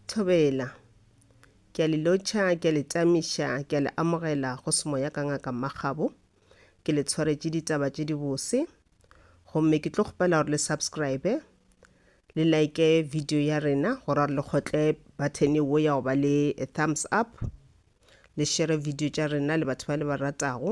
Thobela. Ke a le lotšha, ke a le tamiša, ke a le amogela go semoya ka ngaka Makgabo. Ke le tshwaretše ditaba tše dibose. Gomme ke tlo kgopela gore le subscribe, le like video ya rena, gore gore le kgotle button wo ya go ba le thumbs up, le share video tša rena le batho ba le ba ratago.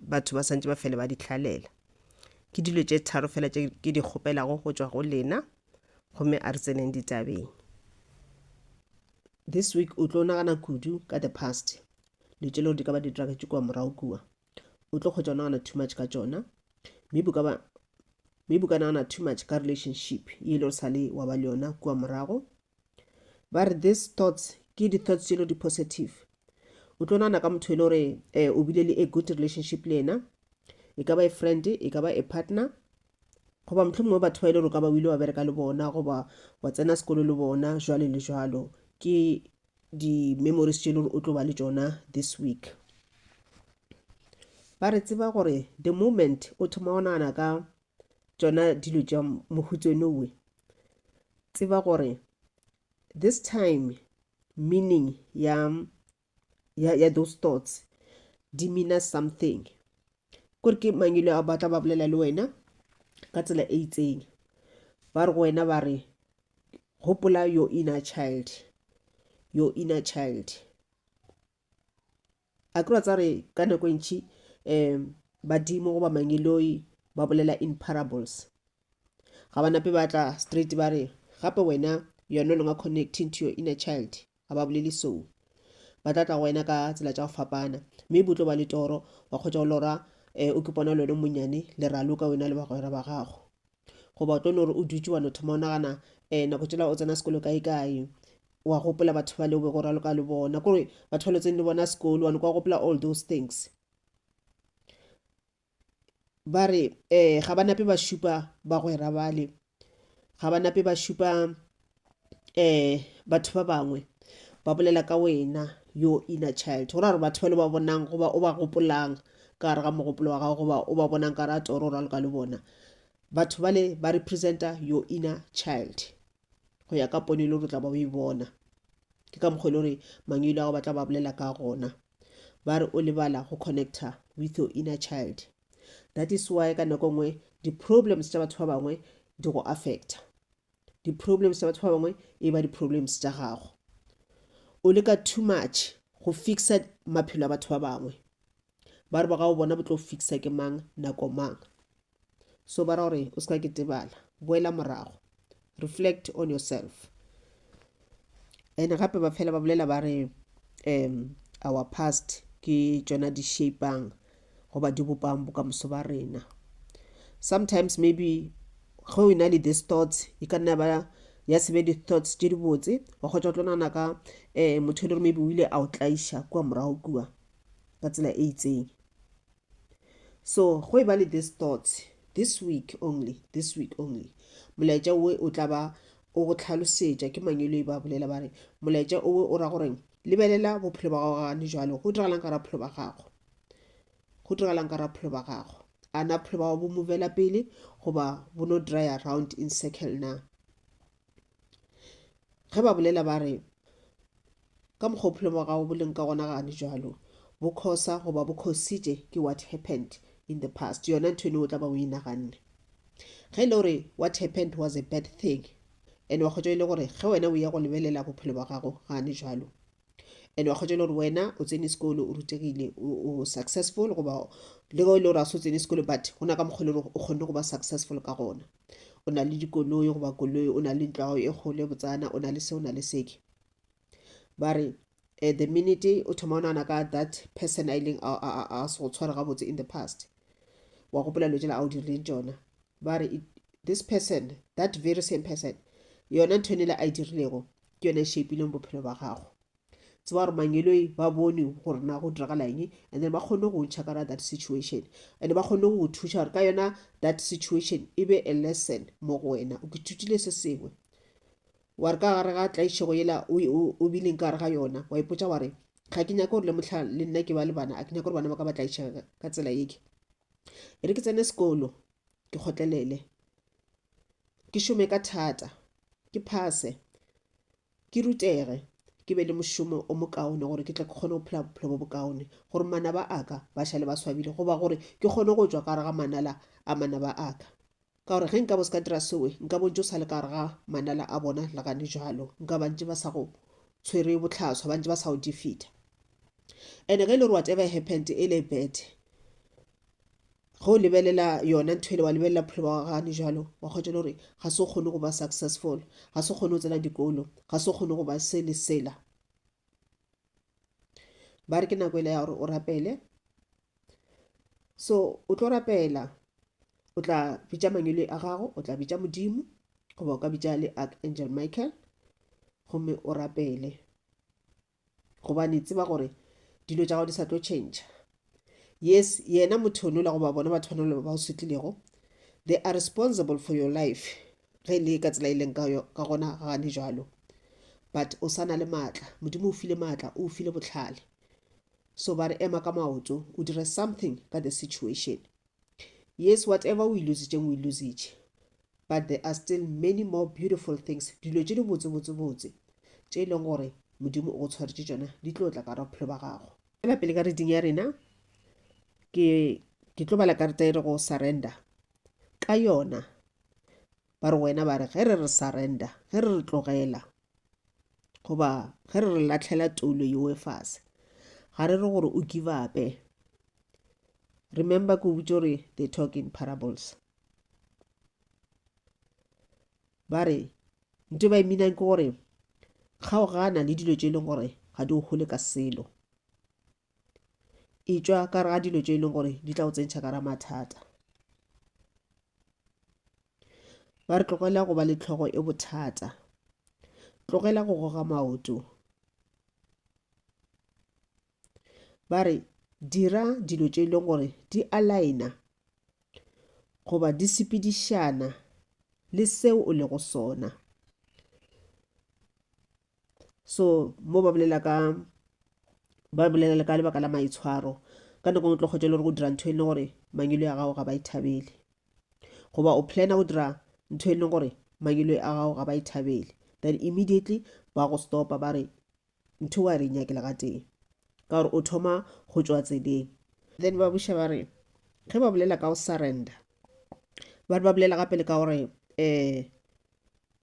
batho ba santse ba fele ba di hlalela ke dilo tše tharo fela tše ke di kgopelago go tšwa go lena gomme a re tseneng ditabeng this week o tlo nagana kudu ka the past le tše lego di ka ba di diragetše kua morago kua o tlo kgotsa o nagana too much ka tšona maybe ka ba maybe ka nagana too much ka relationship e le o sale wa ba le yona kua morago Ba re these thoughts ke di thoughts tšelo di positive. O tlo nana ka motho e le gore eh, o bile le a good relationship le yena, e ka ba a friend, e ka ba a partner, goba mohlho mongwe batho ba e le gore o ka ba o ile wa bereka le bona goba wa tsena sekolo le bona jwale le jwalo ke di-memories tše e le gore o tlo ba le tsona this week ba re tseba gore the moment o thoma go nagana ka tsona dilo tša mohutsenowe tseba gore this time meaning ya ya, ya those thoughts di meana something kore ke mangelo a batla ba bolela le wena ka tsela e itseng ba re go wena ba re gopola your inner child your inner child a kry-a tsa re ka nako e ntšhi um badimo goba mangeloi ba bolela in parables ga ba nape ba tla straight ba re gape wena you are no longer connecting to your inner child ga ba bolele so ba tla tla go wena ka tsela tša go fapana mme bo tlo ba le toro wa kgotsa go lora um o ke pona le wena monnyane le raloka wena le bagwera ba gago goba o tlo no re o dutše wa no thoma o nagana um nako tšela o tsena sekolo kae kae wa gopola batho ba le o be go raloka le bona kore batho ba lotseng le bona sekolo wa no kwa gopola all those things ba re um ga ba nape ba šupa bagwera bale ga ba nape ba šupa um batho ba bangwe ba bolela ka wena yo inner child go ra gore batho ba le ba bonang goba o ba gopolang ka gare ga mogopolo wa gago goba o ba bonang ka ra toro ra loka le bona batho bale ba representa your inner child go ya ka pono e le gore o tla ba o e bona ke ka mokgwa e le gore mangwelo a go batla ba bolela ka gona ba re o lebala go connecta with your inner child that is why ka nako nngwe di-problems tša batho ba bangwe di go affecta di-problems tsa batho ba bangwe e ba di-problems tša gago o leka too much go fixa maphelo a batho ba bangwe ba re ba ga o bona bo tlo fixa ke mang nako mang so ba ra gore o se ka ketebala boela morago reflect on yourself and gape ba fela ba bolela ba re um our past ke tšona di shapang goba di bopang bokamoso ba rena sometimes maybe ge o na le this thoughts e ka nna ba ya sebe di-thoughts tše dibotse wa kgotsa o tlo nana ka um motho e le gore maybe o ile a o tlaiša kua morago kua ka tsela e itseng So go e ba le these thoughts this week only, this week only. Molaetša owe o tla ba o go tlhalosetša ke Mangweloi ba bolela ba re molaetša owe o ra gore lebelela bophelo ba gago gane jwalo go diragalang ka ra bophelo ba gago go diragalang ka ra bophelo ba gago a na bophelo ba gago bo movela pele goba bo no dry around in circle na ge ba bolela ba re ka mokgwa bophelo bwa gago bo leng ka gona gane jalo bo khosa goba bo khositše ke what happened in the past yona ntho eno o tla ba o e naganne ge e le gore what happened was a bad thing and wa kgotsa e le gore ge wena o ya go lebelela bophelo bwa gago gane jalo and wa kgotsa e le gore wena o tsene sekolo o rutegile o successful goba le go e le gore a se o tsene sekolo but go na ka mokgwa e le gore o kgonne go ba successful ka gona o na le dikoloi goba koloi o na le ntlo gago e kgolo e botsana o na le se o na le seke ba re eh, the minute o thoma o nagana ka that person a ileng a se go tshwara gabotse in the past wa gopola dilo tsela a o dirileng tsona ba re this person that very same person yona ntho e nele a e dirilego ke yone e shapileng bophelo ba gago tseba gore mangeloi ba bone gore na go diragala eng and then ba kgone go ntšha kana that situation and ba kgone go thuša gore ka yona that situation e be a lesson mo go wena o kithutile se sengwe wa re ka gare ga tlaišego yela o bileng ka gare ga yona wa ipotsa wa re ga ke nyake gore le motlha le nna ke ba le bana a ke nyake gore bana ba ka ba tlaišega ka tsela yeke e re ke tsene sekolo ke kgotlelele ke šome ka thata ke phase ke rutege, ke be le mošomo o mokaone gore ke tle ke kgone go phela bophelo bo bokaone, gore manaba a ka ba šale ba swabile, goba gore ke kgone go tšwa ka gare ga manala a manaba a ka. Ka gore ge nka bo se ka dira seo, nka bontši o sa le ka gare ga manala a bona le gane bjalo, nka ba ntše ba sa go tshwere bohlaswa, ba ntše ba sa go defeater. And ge e le gore whatever happened e le bad, ge o lebelela yona ntho ele wa lebelela bophelo ba gagane jalo wa kgwetša le gore ga se o kgone go ba successful ga se o kgone go tsena dikolo ga se o kgone go ba se le sela ba re ke nako ele ya gore o rapele so o tlo rapela o tla bitša mangelo a gago o tla bitša modimo goba o ka bitša le archangel michael gomme o rapele gobane tseba gore dilo tša gago di sa tlo tšhentšha yes yena motho yonola goba bona batho ba nola ba o setlilego they are responsible for your life ge e le ka tsela e leng ka gona ga gane jalo but o sa na le maatla modimo o file maatla o file botlhale so ba re ema ka maoto o dire something ka the situation Yes, whatever o e lositšeng o e lositše, but there are still many more beautiful things, dilo tše di botsebotsebotse tše e leng gore Modimo o go tshwaretše tšona di tlo tla ka ra bophelo ba gago. Ela pele ka reading ya rena, ke ke tlo bala karata e re go surrender ka yona ba re wena ba re ge re re surrender ge re re tlogela goba ge re re latlhela toulo yeo e fase ga re re gore o give upe remember ko botse gore they talk in parables ba re nto ba iminang ke gore kgaogana le dilo tse e leng gore ga di o gole ka selo e tšwa ka re ga dilo tše e leng gore di tla go tsentšha ka ra mathata ba re tlogela go ba le tlhogo e bothata tlogela go goga maoto ba re dira dilo tše e leng gore di alaena goba di sepedišana le seo o lego sona so mo ba bolela ka ba bolela le ka lebaka la maitshwaro ka nako ngwe tlo kgotsa le gore go dira ntho e leng gore mangelo ya gago ga ba ithabele goba o plana go dira ntho e leng gore mangelo a gago ga ba ithabele then immediately ba go stopa ba re ntho wa re nyakela ka teng ka gore o thoma go tswa tseleng then ba buša ba re ge ba bolela ka go surrender ba re ba bolela gape le ka gore um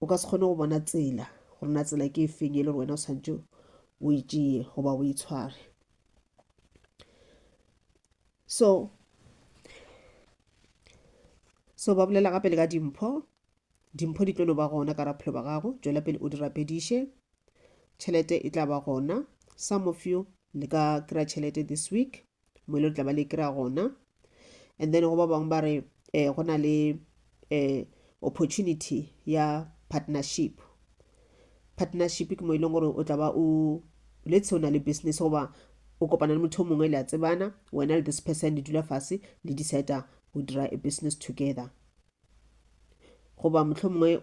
o ka se kgone go bona tsela gore na tsela ke efeng e le gore wena o tshwanetse o e tšeye goba o e tshware so so ba bolela gape le ka dimpho dimpho di tlo no ba gona ka raphelo ba gago tšwela pele o di rapediše tšhelete e tla ba gona some of you le ka kry-a tšhelete this week mo e le tla ba le kry-a gona and then go ba bangwe ba re um go na le um opportunity ya partnership partnership ke mo e leng gore o tla ba o letse o na le business goba o kopana le motho o mongwe le a tsebana wena le this person le dula fase le decide go dira a business together goba motlho mongwe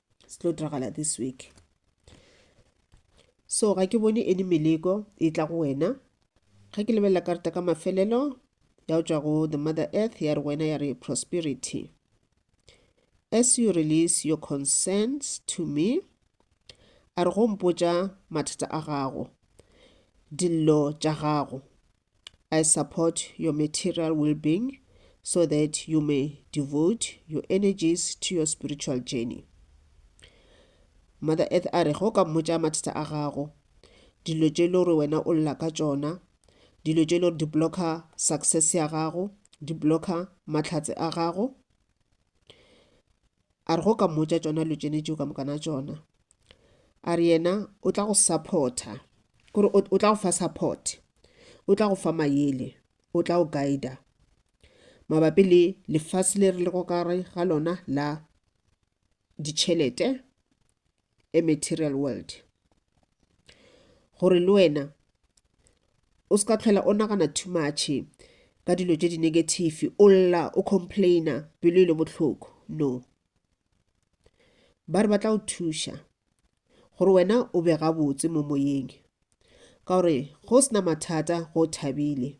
se tlo diragala this week so ga ke bone any meleko e tla go wena ga ke lebelela karata ka mafelelo ya go tswa go the mother earth ya re wena ya re prosperity as you release your concerns to me a re go mpotša mathata a gago dillo tša gago I support your material well-being so that you may devote your energies to your spiritual journey. Mother Earth a re go ka mmotša mathata a gago dilo tše le gore wena o lla ka tšona dilo tše le gore di blocka success ya gago di blocka mahlatse a gago a re go ka mmotša tšona lo tšene tšeo ka mokana tšona a re yena o tla go supporta kore o tla go fa support o tla go fa mayele o tla go guida mabapi le lefase le re le go kare ga lona la ditšhelete a material world gore le wena o se ka tlhwela o nagana too much ka dilo tše di-negative o lla o complaina pelo e le bohloko no ba re ba tla o thuša gore wena o be gabotse mo moyeng ka gore go sena mathata go thabile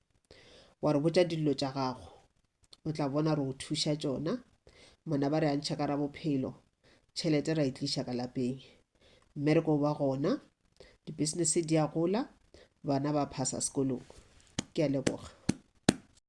wa re botša dillo tša gago o tla bona re o thuša tšona mona ba re a ntšha ka ra bophelo tšhelete ra e tliša ka lapeng mme re ko ba gona di-business di a gola bana ba phasa sekolong ke a leboga